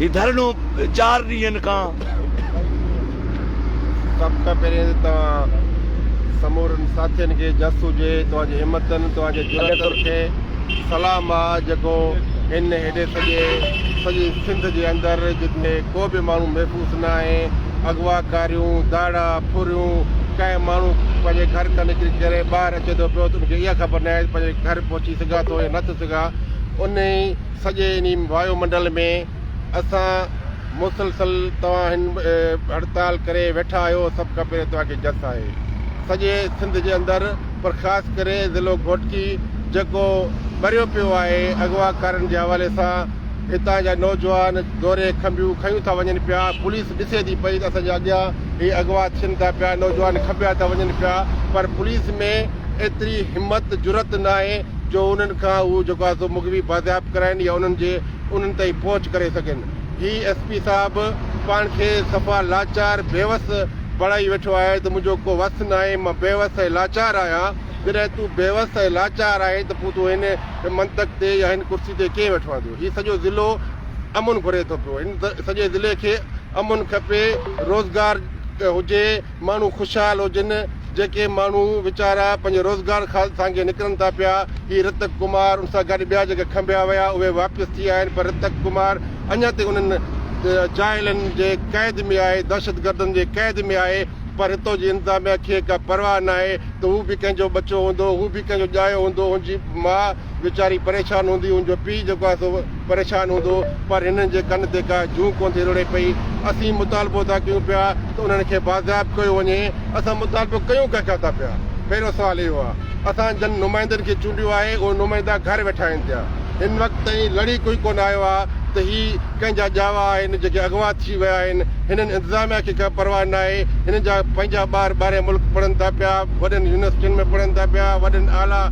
هي ڌرڻو چار ڏينهن کان سڀ کان پهرين ته توهان سمورن ساٿين کي جس هجي توهان جي همتن توهان جي جرئتن کي سلام آ جيڪو هن هيڏي سڄي سڄي سنڌ جي اندر جتي ڪو به ماڻهو محفوظ نه آهي اغوا ڪاريون ڌاڙا ڦريون ڪنهن ماڻهو پنهنجي گهر کان نڪري ڪري ٻاهر اچي ٿو پيو ته ان کي اها خبر نه آهي ته پنهنجي گهر پهچي سگهان ٿو يا نه ٿو سگهان انهي سڄي انهي وايو منڊل ۾ اسان مسلسل توهان هن هڙتال ڪري ويٺا آهيو سڀ کان پهرين توهان کي جس آهي سڄي سنڌ جي اندر پر خاص ڪري ضلعو گهوٽڪي جيڪو ٻريو پيو آهي اغوا ڪارن جي حوالي سان هتان جا نوجوان دوري کنڀيون کنيون ٿا وڃن پيا پوليس ڏسي ٿي پئي ته اسان جي اڳيان هي اغوا ٿين ٿا پيا نوجوان کنڀيا ٿا وڃن پيا پر پوليس ۾ ايتري همت جرئت ناهي جو انهن کان اهو جيڪو آهي سو مغوي بازياب ڪرائين يا انهن جي انهن تائين پهچ ڪري سگهن. هي ايس پي صاحب پاڻ کي صفا لاچار بيوس بڻائي ويٺو آهي ته منهنجو ڪو وس ناهي مان بيوس ۽ لاچار آهيان. جڏهن تون بيوس ۽ لاچار آهين ته پوء تون هن منطق تي يا هن ڪرسي تي ڪيئن ويٺوآهيندو. هي سڄو ضلعو امن گهري ٿو پيو. هن سڄي ضلعي کي امن کپي روزگار هجي. ماڻهو خوشحال هجن، جيڪي ماڻهو ويچارا پنهنجي روزگار خاطر سانگي نڪرن ٿا پيا، هي رتڪ ڪمار ان سان گڏ ٻيا جيڪي کنڀيا ويا اهي واپس ٿي آيا آهن پر رتڪ ڪمار اڃا تائين انهن جاهلن جي قيد ۾ آهي، دهشتگردن جي قيد ۾ آهي پر هتو جي انتظاميا کي ڪا پرواهه ناهي ته هو به ڪنهن جو ٻچو هوندو، هو به ڪنهن جو ڄايو هوندو، هن جي ماء. ويچاري پريشان هوندي، هن جو پيء جيڪو آهي سو پريشان هوندو، پر هنن جي ڪن تي ڪا جون ڪونه ٿي رڙي پئي. اسين مطالبو ٿا ڪيون پيا ته انهن کي بازياب ڪيو وڃي. اسان مطالبو ڪيون ڪنهن کان ٿا پيا؟ پهريون سوال اهو آهي. اسان جن نمائندن کي چونڊيو آهي، اهي نمائندا گهر ويٺا آهن پيا. هن وقت تائين لڙي ڪوئي ڪونه آيو آهي ته هي. ڪنهن جا ڄاوا آهن جيڪي اغوا ٿي ويا آهن، هنن انتظاميا کي ڪا پرواهه ناهي، هنن جا پنهنجا ٻار ٻاهرئين ملڪ پڙهن ٿا پيا، وڏين يونيورسٽين ۾ پڙهن ٿا پيا، وڏن اعليٰ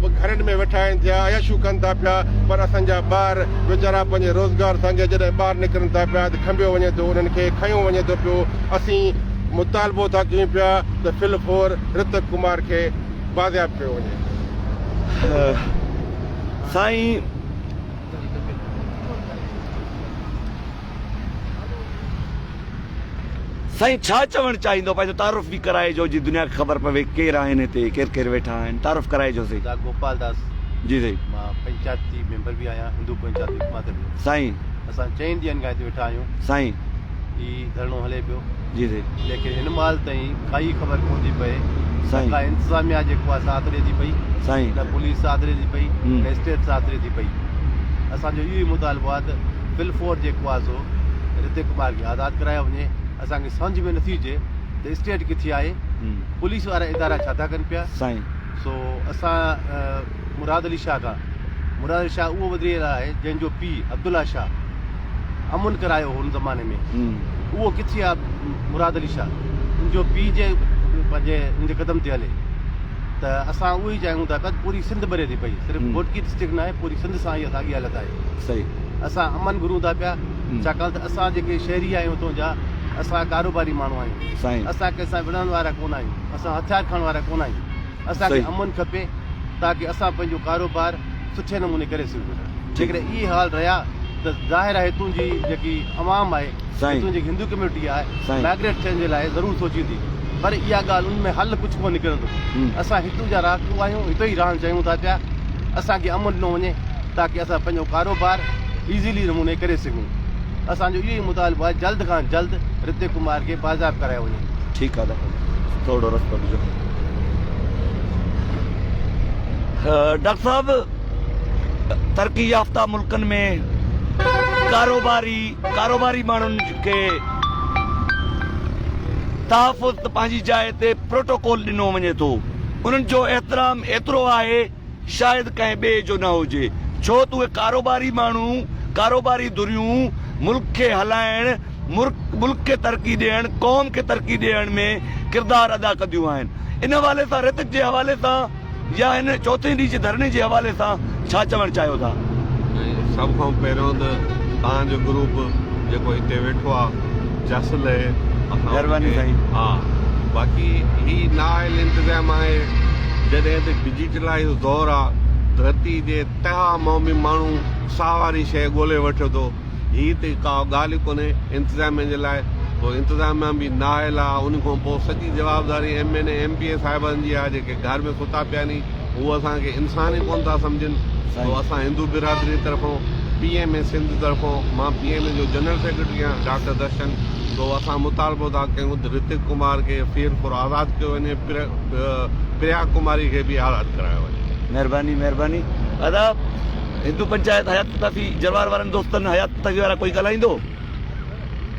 گهرن ۾ ويٺا آهن ٿيا، عياشيون ڪن ٿا پيا، پر اسان جا ٻار ويچارا پنهنجي روزگار سانگي جڏهن ٻاهر نڪرن ٿا پيا ته کنڀيو وڃي ٿو، انهن کي کنيو وڃي ٿو پيو، اسين مطالبو ٿا ڪيون پيا ته ڦل ڦور رتڪ ڪمار کي بازياب ڪيو وڃي. سائين! سائين ڇا چوڻ چاهيندو پنهنجو تعارف به ڪرائجو جي دنيا کي خبر پوي ڪير آهن هتي ڪير ڪير ويٺا آهن تعارف ڪرائجو سائين. دا گوپال داس جي سائين مان پنچات جي ميمبر به آهيان هندو پنچات وڪماتر جو سائين اسان چئن ڏينهن کان هتي ويٺا آهيون سائين. هي ڌرڻو هلي پيو ليڪن هن مهل تائين ڪائي خبر ڪونه ٿي پئي نه ڪا انتظاميا جيڪو آهي ساٿ ڏي ٿي پئي نه پوليس ساٿ ڏي ٿي پئي نه اسٽيٽ ساٿ ڏي ٿي پئي اسان جو اهو ئي مطالبو آهي ته فل فور جيڪو آهي سو رتي ڪمار کي آزاد ڪرايو وڃي اسانکي سمجهه ۾ نٿي اچي ته اسٽيٽ ڪٿي آهي پوليس وارا ادارا ڇا ٿا ڪن پيا سو اسان مراد علي شاهه کان مراد علي شاهه اهو وڌري رهيو آهي جنهن جو پيء عبدالله شاهه امن ڪرايو هو ان زماني ۾ اهو ڪٿي آهي مراد علي شاهه ان جو پيء جي پنهنجي ان جي قدم تي هلي ته اسان اهو ئي چاهيون ٿا پيا پوري سنڌ ٻري ٿي پئي صرف گهوٽڪي ڊسٽرڪٽ نه آهي پوري سنڌ سان اها ساڳي حالت آهي صحيح اسان امن گهرون ٿا پيا ڇاڪاڻ ته اسان جيڪي شهري آهيون اتون جا اسان ڪاروباري ماڻهو آهيون اسان ڪنهن سان وڙهڻ وارا ڪونه آهيون اسان هٿيار کڻڻ وارا ڪونه آهيون اسان کي امن کپي تاڪه اسان پنهنجو ڪاروبار سٺي نموني ڪري سگهون. جيڪڏهن اهي حال رهيا ته ظاهر آهي هتون جي جيڪي عوام آهي، هتون جي جيڪي هندو ڪميونٽي آهي، مائگريٽ ٿيڻ جي لاء ضرور سوچيندي. پر اها ڳالهه ان ۾ حل ڪجهه ڪونه نڪرندو. اسان هتون جا رهاڪو آهيون، هتي ئي رهڻ چاهيون ٿا پيا. اسان کي امن ڏنو وڃي تاڪه اسان پنهنجو ڪاروبار ايزلي نموني ڪري سگهون. اسان جو اهو ئي مطالبو آهي جلد کان جلد رتي ڪمار کي بازياب ڪرايو وڃي. ٺيڪ آ ڊاڪٽر صاحب ٿورڙو رستو ڏجو. ڊاڪٽر صاحب ترقي يافته ملڪن ۾ ڪاروباري ڪاروباري ماڻهن کي تحفظ ته پنهنجي جاء تي پروٽوڪول ڏنو وڃي ٿو انهن جو احترام ايترو آهي شايد ڪنهن ٻئي جو نه هجي، ڇو ته اهي ڪاروباري ماڻهو، ڪاروباري ڌريون ملڪ کي هلائڻ، ملڪ کي ترقي ڏيڻ، قوم کي ترقي ڏيڻ ۾ ڪردار ادا ڪنديون آهن. ان حوالي سان ريتڪ جي حوالي سان يا هن چوٿين ڏينهن جي ڌرڻي جي حوالي سان ڇا چوڻ چاهيو ٿا؟ سڀ کان پهريون ته توهان جو گروپ جيڪو هتي ويٺو آهي. جاسل اهي اسان مهرباني سائين ها باقي هي نااهل انتظام آهي جڏهن ته ڊجيٽلائيز جو دور آ ڌرتي جي تهه مون به ماڻهو ساهه واري شيء ڳولي وٺي ٿو هي ته ڪا ڳالهه ئي ڪونهي انتظاميه جي لاء پوء انتظاميه به نااهل آ ان کان پوء سڄي جوابداري M N A M P A صاحبن جي آ جيڪي گهر ۾ ستا پيا ني هو اسان کي انسان ئي ڪون ٿا سمجهن سو اسان هندو برادري طرفون پي ايم اي سنڌ طرفون مان پي ايم اي جو جنرل سيڪريٽري آهيان ڊاڪٽر درشن سو اسان مطالبو ٿا ڪيون ته رتڪ ڪمار کي ڦير ڦور آزاد ڪيو وڃي پريا ڪماري کي به آزاد ڪرايو وڃي مهرباني مهرباني ادا هندو پنچائت حيات پتافي جروار وارن دوستن حيات پتافي وارا ڪوئي ڳالهائيندو.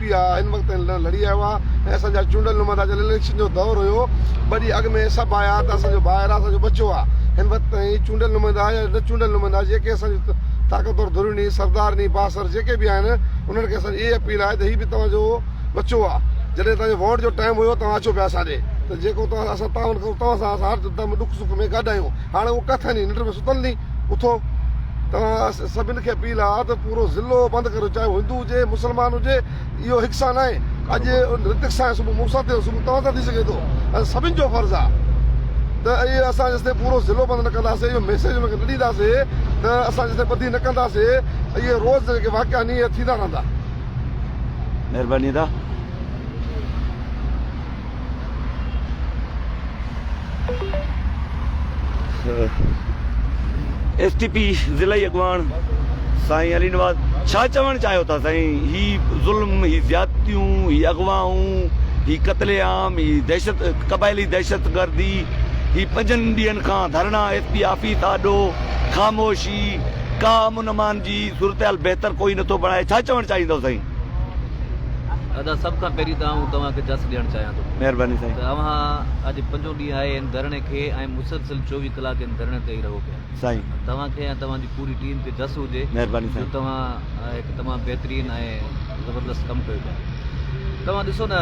پيا ان وقت تائين لڙ لڙي آيا هئا ۽ اسان جا چونڊيل نمائندا جڏهن اليڪشن جو دؤر هيو ٻه ڏينهن اڳ ۾ سڀ آيا ته اسان جو ڀائر آ اسان جو ٻچو آ هن وقت تائين چونڊيل نمائندا يا نه چونڊيل نمائندا جيڪي اسان جون طاقتور ڌريون ني سردار ني بااثر جيڪي به آهن انهن کي اسان جي اهي اپيل آهي ته هي به توهان جو ٻچو آ جڏهن توهان جو ووٽ جو ٽائيم هيو توهان اچو پيا اسان ڏي ته جيڪو توهان اسان تعاون ڪرون توهان سان اسان هر دم ڏک سک ۾ گڏ آهيون هاڻي اهو ڪٿ ني ننڊ ۾ ستل ني. اٿو توهان سڀن کي اپيل آهي ته پورو ضلعو بند ڪريو چاهي هو هندو هجي مسلمان هجي اهو هڪ سان ناهي اڄ رتڪ سان صبح مون سان ٿيو صبح توهان سان ٿي سگهي ٿو ۽ سڀن جو فرض آهي ته اهي اسان جيسي پورو ضلعو بند نه ڪنداسي اهو ميسيج ان کي نه ڏينداسي ته اسان جيسي ٻڌي نه ڪنداسي اهي روز جيڪي واقعا ني ٿيندا رهندا مهرباني ادا ايس ٽي پي ضلعي اڳواڻ سائين علي نواز ڇا چوڻ چاهيو ٿا سائين هي ظلم هي زيادتيون هي اغوائون هي قتل عام هي دهشت قبائلي دهشت گردي هي پنجن ڏينهن کان ڌرڻا ايس پي آفيس آڏو خاموشي ڪا امن امان جي صورتحال بهتر ڪوئي نٿو بڻائي ڇا چوڻ چاهيندو سائين ادا سڀ کان پهرين ته آئون توهان کي جس ڏيڻ چاهيان ٿو. مهرباني سائين. ته اوهان اڄ پنجون ڏينهن آهي ان ڌرڻي کي ۽ مسلسل چوويهه ڪلاڪ ان ڌرڻي تي ئي رهو پيا. سائين. توهان کي ۽ توهان جي پوري ٽيم کي جس هجي. مهرباني سائين. جو توهان هڪ تمام بهترين ۽ زبردست ڪم ڪيو پيا. توهان ڏسو نه.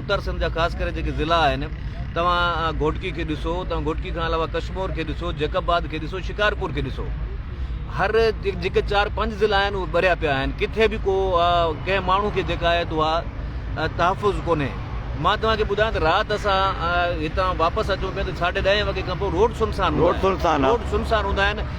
اتر سنڌ جا خاص ڪري جيڪي ضلعا آهن توهان گهوٽڪي کي ڏسو توهان گهوٽڪي کان علاوه ڪشمور کي ڏسو جيڪب آباد کي ڏسو شڪارپور کي ڏسو هر جيڪي چار پنج ضلع آهن اهي ٻريا پيا آهن ڪٿي به ڪو ڪنهن ماڻهو کي جيڪا آهي تو اها تحفظ ڪونهي مان توهان کي ٻڌايان ته رات اسان هتان واپس اچون پيا ته ساڍي ڏهين وڳي کان پوء روڊ سنسان روڊ سنسان روڊ سنسان هوندا آهن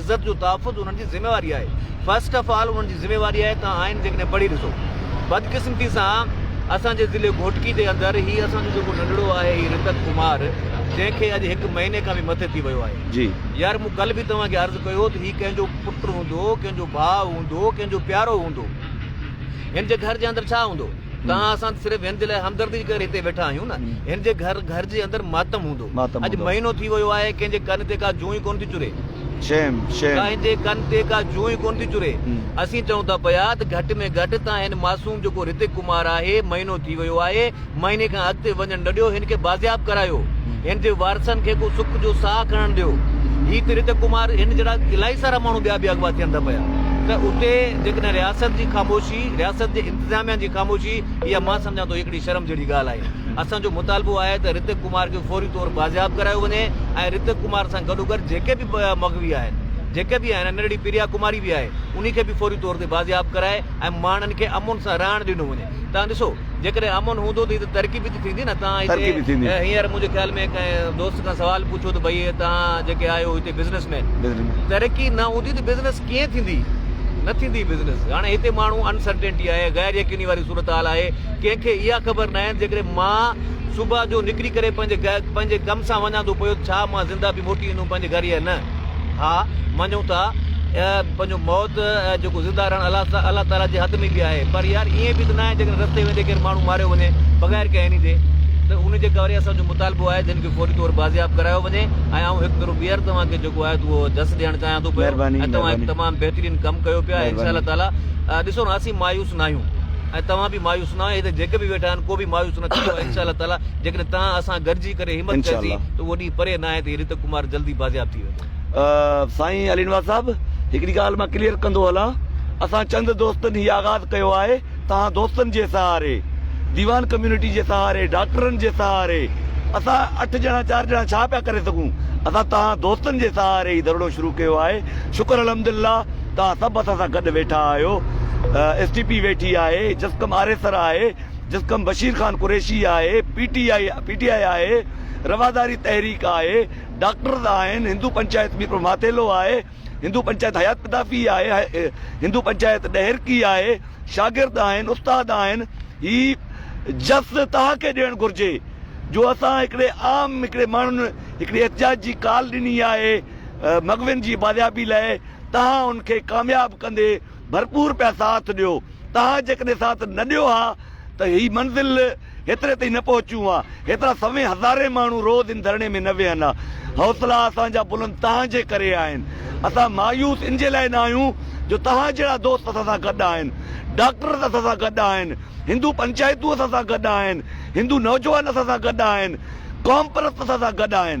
عزت جو تحفظ انهن جي ذميواري آهي فرسٽ آف آل انهن جي ذميواري آهي توهان آئين جيڪڏهن پڙهي ڏسو بدقسمتي سان اسان جي ضلعي گهوٽڪي جي اندر هي اسان جو جيڪو ننڍڙو آهي هي رتڪ ڪمار جنهن کي اڄ هڪ مهيني کان به مٿي ٿي ويو آهي جي يار مون ڪل به توهان کي عرض ڪيو ته هي ڪنهن جو پٽ هوندو ڪنهن جو ڀاء هوندو ڪنهن جو پيارو هوندو هن جي گهر جي اندر ڇا هوندو توهان اسان صرف هن جي لاء همدردي جي ڪري هتي ويٺا آهيون نه هن جي گهر گهر جي اندر ماتم هوندو. ماتم اڄ هوندو. مهينو ٿي ويو آهي. ڪنهن جي ڪن تي ڪا جون ئي ڪونه ٿي چري. Shame shame. ڪنهن جي ڪن تي ڪا جون ئي ڪونه ٿي چري. اسين چئون ٿا پيا ته گهٽ ۾ گهٽ تان هن معصوم جيڪو رتڪ ڪمار آهي مهينو ٿي ويو آهي مهيني کان اڳتي وڃڻ نه ڏيو هن کي بازياب ڪرايو هن جي وارثن کي ڪو سک جو ساهه کڻڻ ڏيو هي ته رتڪ ڪمار هن جهڙا الائي سارا ماڻهو ٻيا به اغوا ٿين ٿا پيا ته اتي جيڪڏهن رياست جي خاموشي رياست جي انتظاميا جي خاموشي اها مان سمجهان ٿو هڪڙي شرم جهڙي ڳالهه آهي اسان جو مطالبو آهي ته رتڪ ڪمار کي فوري طور بازياب ڪرايو وڃي ۽ رتڪ ڪمار سان گڏوگڏ جيڪي به مغوي آهن جيڪي به آهن ننڍڙي پريا ڪماري به آهي انهي کي به فوري طور تي بازياب ڪرائي ۽ ماڻهن کي امن سان رهڻ ڏنو وڃي تان ڏسو جيڪڏهن امن هوندو ته هي ته ترقي به ته ٿيندي نه تان هتي هينئر منهنجي خيال ۾ ڪنهن دوست کان سوال پڇو ته ڀئي تان جيڪي آهيو هتي بزنس مين ترقي نه هوندي ته بزنس ڪيئن ٿيندي نه ٿيندي بزنس هاڻي هتي ماڻهو انسرٽينٽي آهي غير يقيني واري صورتحال آهي ڪنهن کي اها خبر ناهي جيڪڏهن مان صبح جو نڪري ڪري پنهنجي ڪم سان وڃان ٿو پيو ته ڇا مان زنده به موٽي ايندم پنهنجي گهر يا نه؟ ها، مڃون ٿا ته پنهنجو موت ۽ جيڪو زنده رهڻ الله تعاليٰ جي هٿ ۾ به آهي پر يار ائين به ته ناهي جيڪڏهن رستي ويندي ڪير ماڻهو ماريو وڃي بغير ڪنهن اني جي ته ان جي ڪري اسان جو مطالبو آهي ته هن کي فوري طور بازياب ڪرايو وڃي ۽ آئون هڪ ڀيرو ٻيهر توهان کي جيڪو آهي ته اهو جس ڏيڻ چاهيان ٿو پيو ۽ توهان هڪ تمام بهترين ڪم ڪيو پيا ۽ انشاء الله تعاليٰ ڏسو ها اسين مايوس ناهيون. ۽ توهان به مايوس نه آهيو هتي جيڪي به ويٺا آهن ڪو به مايوس نه ٿيندو انشاء الله تعالي جيڪڏهن توهان اسان گڏجي ڪري همت انشاء ڪياسين الله. ته اهو ڏينهن پري نه آهي ته هي رتو ڪمار جلدي بازياب ٿي ويندو. سائين علي نواز صاحب هڪڙي ڳالهه مان ڪليئر ڪندو هلان اسان چند دوستن هي آغاز ڪيو آهي توهان دوستن جي سهاري ديوان ڪميونٽي جي سهاري ڊاڪٽرن جي سهاري اسان اٺ ڄڻا چار ڄڻا ڇا پيا ڪري سگهون اسان توهان دوستن جي سهاري هي ڌرڻو شروع ڪيو آهي شڪر الحمدلله توهان سڀ اسان سان گڏ ويٺا آهيو، ايس ٽي پي ويٺي آهي، جسقم آريسر آهي، جسقم بشير خان قريشي آهي، P T I P T I آهي، رواداري تحريڪ آهي، ڊاڪٽرز آهن، هندو پنچائت ميرپور ماٿيلو آهي، هندو پنچائت حيات پتافي آهي، هندو پنچائت ڏهرڪي آهي، شاگرد آهن، استاد آهن، هي جس توهان کي ڏيڻ گهرجي جو اسان هڪڙي عام هڪڙي ماڻهن هڪڙي احتجاج جي ڪال ڏني آهي مغوين جي بازيابي لاء، توهان ان کي ڪامياب ڪندي ڀرپور پيا ساٿ ڏيو. توهان جيڪڏهن ساٿ نه ڏيو ها ته هي منزل هيتري تائين نه پهچون ها. هيترا سوين هزارين ماڻهو روز ان ڌرڻي ۾ نه ويهن ها. حوصلا اسان جا بلند توهان جي ڪري آهن. اسان مايوس ان جي لاء نه آهيون جو توهان جهڙا دوست اسان سان گڏ آهن. ڊاڪٽرز اسان سان گڏ آهن. هندو پنچائتون اسان سان گڏ آهن. هندو نوجوان اسان سان گڏ آهن. قومپرست اسان سان گڏ آهن.